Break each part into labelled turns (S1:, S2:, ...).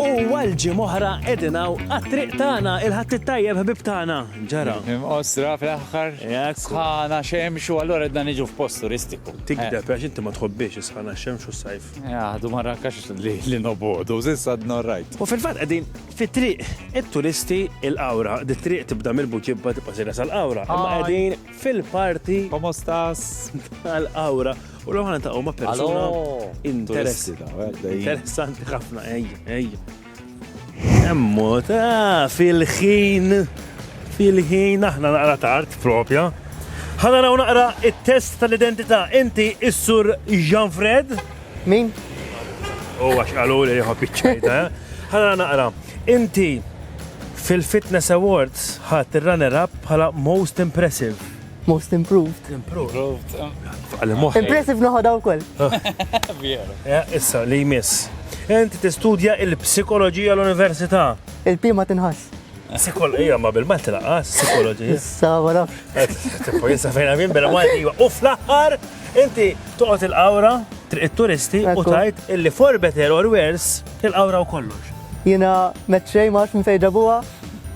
S1: U għal ġimgħa oħra qegħdin hawn għat-triq tagħna, il-Ħadd it-Tajjeb ħbieb tagħna. Ġara. Imqosra
S2: fl-aħħar. Jekk. Sħana xemx u allura qedna niġu f'post turistiku. Tikdeb għax inti ma
S1: tħobbiex is-sħana xemx u s-sajf. Jaħdu ma rakkax
S2: li li nobodu, zissa dna rajt. U fil-fatt qegħdin
S1: fit-triq it-turisti il-Qawra. Dit-triq tibda mill-Buġibba tibqa' sejra sal-Qawra. Imma qegħdin fil-parti. Komostas.
S2: Tal-Qawra.
S1: U l ħana ta' ma' persuna interessanti ħafna, ej, ej. Emmot, ah, fil-ħin, fil-ħin, aħna naqra tard, propja. Ħana raw naqra il-test tal-identità, inti issur Jean Fred? Min?
S3: U
S1: oh, għax għalu li jħob iċċajta, eh? ħana naqra, inti fil-Fitness Awards ħat il-runner-up bħala most impressive. Most improved.
S3: Improved. Għalli moħħi. Impressive noħodha wkoll. Vjeru.
S1: Eh, issa, li jmiss. Inti tistudja il-psikoloġija l-università. Il-pima tinħass.
S3: Psikoloġija, ma
S1: bil-mat laqqas, psikoloġija. Issa, ma nafx.
S3: Eh, Tipo, jissa
S1: fejna minn bil malti jiva. U fl-aħħar, inti toqgħod il-qawra, triq it-turisti u tajt illi for better or worse, il-qawra u kollox. Jina
S3: meċċej ma nafx minn fejn ġabuha,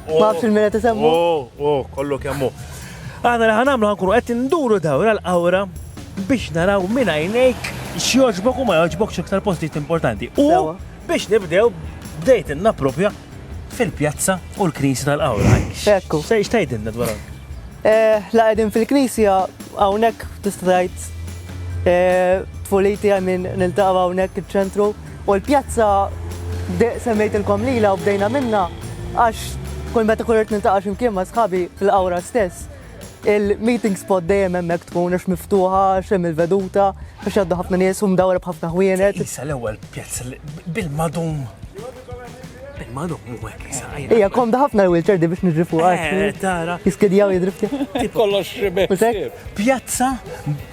S3: ma nafx il-mira tisemmu. Oh, oh, kollu
S1: kemmu. Aħna li ħa nagħmlu ħa nkunu qed induru dawra l-qawra biex naraw minn għajnejk x'jogħġbok u ma jogħġbokx iktar postijiet importanti. U biex nibdew bdejt innappropja fil-pjazza u l-knisja tal-qawra. Ekku. Se
S3: xtajdinna dwar
S1: hawn? Eh, la
S3: qegħdin fil-knisja hawnhekk tista' tgħid eh, tfuliti għal min niltaqgħu hawnhekk iċ-ċentru. U l-pjazza, semmejtilkom lilha u bdejna minnha għax kull meta kun irid niltaqa' xi mkien ma' sħabi fil-Qawra stess, il-meeting spot dejjem hemmhekk tkun għax miftuħa, għax hemm il-veduta, għax jgħaddu ħafna nies u mdawwra b'ħafna ħwienet. Tqisha l-ewwel pjazza
S1: li bil-madum, bil-madum hu hekk qisha. Hija komda ħafna
S3: l-wheelchair di biex niġri fuqha. Eh, tara. Jiskidja u
S1: jidri f'tiegħek.
S3: Kollox xi
S2: biss. Pjazza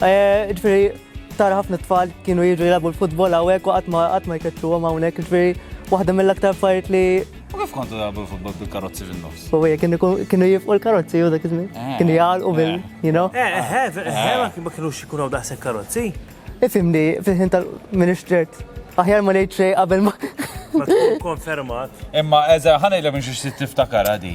S3: Ġifieri tara ħafna tfal kienu jiġu jilagħbu l-futbol hawnhekk u qatt ma qatt ma jkeċċuhom hawnhekk, ġifieri waħda mill-aktar affarijiet li U kif kontu tagħbu
S2: l-futbol bil-karozzi fin-nofs? u hija kienu jkun- kienu
S3: jifqu l-karozzi u dak iż-żmien. Eh, Kienu jgħalqu bil, eh. you know. Eh, eh, eh, eh, ma kien- ma
S1: kienux ikun hawn daqshekk karozzi. Ifhimni,
S3: fil-ħin tal minn ixtert. Aħjar ma ngħid xejn qabel ma. Ma tkun
S1: konfermat. Imma eża
S2: ħanejlek minn xi xtieq tiftakar għadi.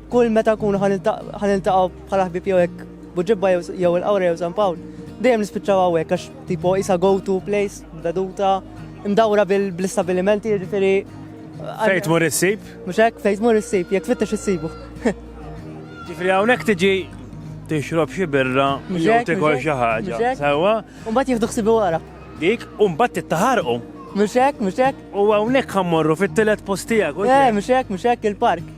S3: Kull meta nkunu ħa niltaqgħu bħala ħbieb jew hekk Buġibba jew il-Qawra jew San Pawl, dejjem nispiċċaw hawnhekk għax tipo isa go to place, veduta, mdawra bl-istabbilimenti, jiġifieri. Fejt mur
S1: issib? Mhux hekk, fejt mur
S3: issib, jekk tfittex issibu.
S1: Ġifieri hawnhekk tiġi tixrob xi birra jew tikol xi ħaġa. Sewwa. U mbagħad jieħdu ħsibu
S3: wara. Dik u mbagħad
S1: tittaħarqu. Mhux hekk, mhux
S3: hekk. U hawnhekk ħammorru
S1: fit-tielet post tiegħek. Eh, mhux hekk, mhux hekk
S3: il-park.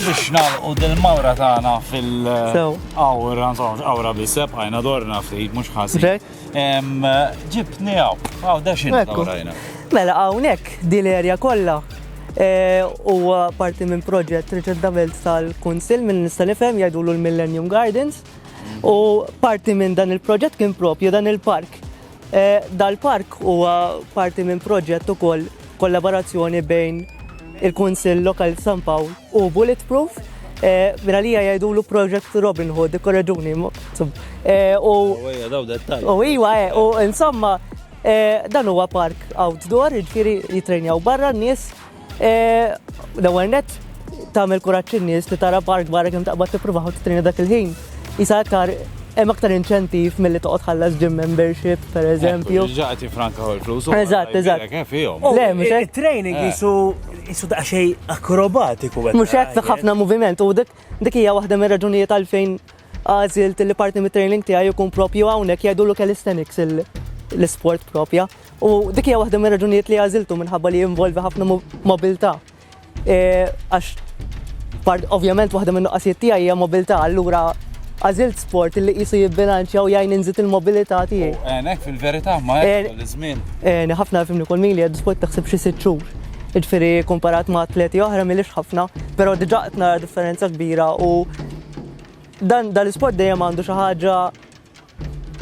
S2: biex nalqu dil-mawra tagħna fil- Awra, awra biseb, għajna dorna ftit, mhux ħasib. Ġibni
S3: għaw,
S2: għaw daxin għawrajna.
S3: Mela
S2: hawnhekk
S3: din l-erja
S2: kollha
S3: eh, huwa parti minn proġett Richard Davelt tal-Kunsil minn nista' nifhem jgħidulu l-Millennium Gardens u parti minn dan il-proġett kien propju dan il-park Dal-park huwa parti minn proġett ukoll kollaborazzjoni bejn il-Kunsill Lokali ta' San Pawl u Bulletproof. Minn għalija jgħidulu Project Robin Hood, ikkoreġuni. U Ejja, daw dettalji.
S2: U iwa, eh, u
S3: insomma, eh, dan huwa park outdoor, jiġifieri jitrejnjaw barra n-nies L-ewwel nett tagħmel kuraġġ in-nies li tara park barra kemm taqbad tippruvaħ u titrina dak il-ħin. Isa aktar hemm aktar inċentiv milli toqgħod ħallas gym membership pereżempju. Ġaqti franka ħol
S2: flus. Eżatt, eżatt.
S3: Le, mhux
S2: hekk. Training
S3: eh. isu
S1: isu daqsxejn akrobatiku. Mhux hekk ħafna
S3: moviment u dik hija waħda mir-raġunijiet għalfejn Għażilt li parti mit-training tiegħi jkun propju hawnhekk jgħidulu calisthenics l-isport propja. U dik hija waħda mir-raġunijiet li għażiltu minħabba li jinvolvi ħafna mobilità. E, għax ovvjament waħda minn nuqqasijiet tiegħi hija mobilità, allura għażilt sport li qisu jibbilanċja u jgħin inżid il-mobilità tiegħi. Għenek fil-verità
S2: ma għenek l-żmien. Għenek ħafna fimni kol
S3: mili għed sport taħseb xi sitt xhur. Ġifieri komparat ma' atleti oħra milix ħafna, però diġà qed nara differenza kbira u Dan dal-isport dejjem għandu xi ħaġa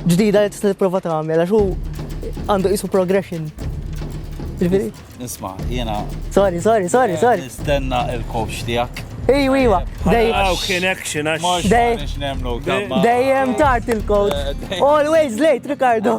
S3: ġdida li tista' tipprova tagħmel għax hu għandu qisu progression. Ġifieri? Isma,
S2: jiena. Sorry, sorry, sorry,
S3: sorry. Nistenna
S2: il-coach tiegħek. Ej, wiwa.
S3: Dejjem
S1: connection għax.
S2: Dejjem tard
S3: il-coach. Eh, Always late, Ricardo.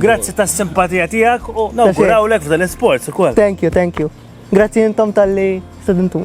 S2: Grazzi ta' simpatija
S1: tijak u nawgurawlek
S3: f'dan
S1: l-sports
S3: u kol.
S1: Thank
S3: you, thank
S1: you.
S3: Grazzi
S1: jintom
S3: tal-li sedintu.